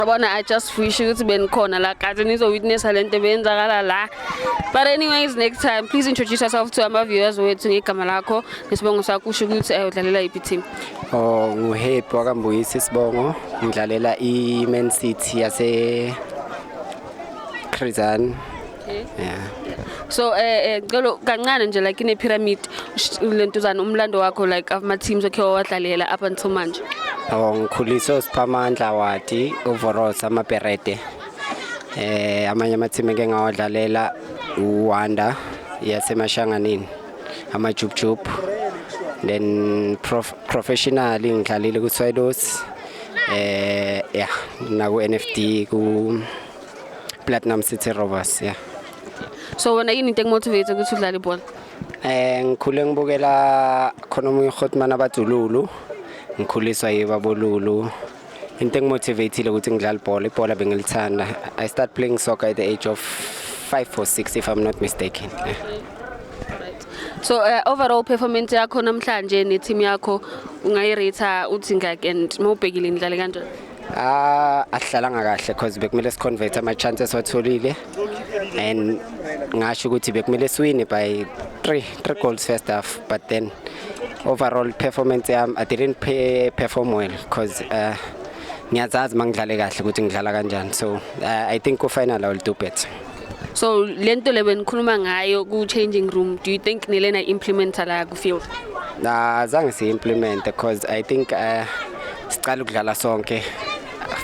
Yabona I just wish ukuthi benikhona la kade nizo witness lento beyenzakala la. But anyways next time please introduce yourself to our viewers wethu ngegama lakho nesibongo sakho usho ukuthi eh, udlalela iphi team. Oh nguhappy wakambuyisa isibongo ngidlalela i Man City yase Khrizani. Okay. Yeah. So eh eh ngicela kancane nje like ine pyramid sh- lentuzana umlando wakho like ama teams okhe wawadlalela up until manje. Oh ngikhuliswe uSiphamandla Wadi, uVoros amaBerete. Eh amanye amathimi eke ngawadlalela uWanda yaseMashanganini, amaJubjub. Then prof, professional ngidlalile kuSwallows. Eh yeah, naku NFD ku Platinum City Rovers yeah. So wena yini into ekumotivate ukuthi udlale ibhola? Eh ngikhule ngibukela khona omunye uGotman abajululu. Ngikhuliswa yibabolulu. Into engimotivateile ukuthi ngidlale ibhola, ibhola bengilithanda. I start playing soccer at the age of 5 or 6 if I'm not mistaken. Yeah. So uh, overall performance yakho namhlanje ne team yakho ungayirate uthi ngak and mawubhekile nidlale kanjani? Ah ahlalanga kahle because bekumele siconvert ama chances watholile and ngasho ukuthi bekumele siwine by 3 3 goals first half but then overall performance yami I didn't pay, perform well because uh, ngiyazazi mangidlale kahle ukuthi ngidlala kanjani so uh, I think ku final I will do better So lento le benikhuluma ngayo ku changing room do you think nilena implementer la ku field? Nah zange si implement because I think uh, siqala ukudlala sonke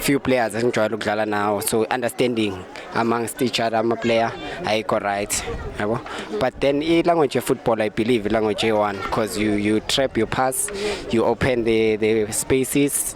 few players esingijwayele ukudlala nawo so understanding amongst each other ama player ayikho right yabo but then i language of football i believe language a1 because you you trap your pass you open the the spaces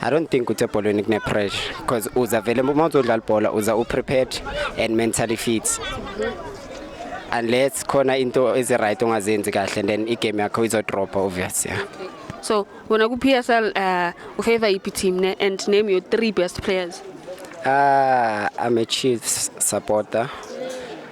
I don't think ukuthi ebholweni kune pressure because uza vele uma uzodlala ibhola uza u prepared and mentally fit unless khona into ezi right ongazenzi kahle then i game yakho izo drop obvious yeah so wena ku PSL uh u favor iphi team ne and name your three best players uh i'm a chiefs supporter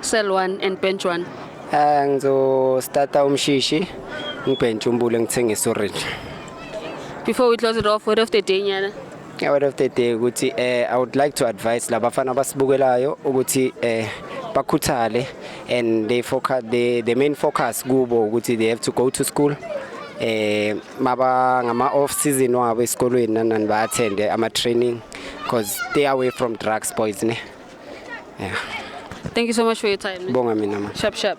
Cell 1 and bench 1. Ah ngizostata umshishi ngibhentshe umbule ngithengisa orange. Before we close it off, word of the day nyana. Yeah, word of the day ukuthi eh I would like to advise labafana abasibukelayo ukuthi eh bakhuthale and they focus the the main focus kubo ukuthi they have to go to school eh maba ngama off season wabo esikolweni nanani ba attend ama training because they are away from drugs boys ne yeah. thank you so much for your time bonga mina ma sharp sharp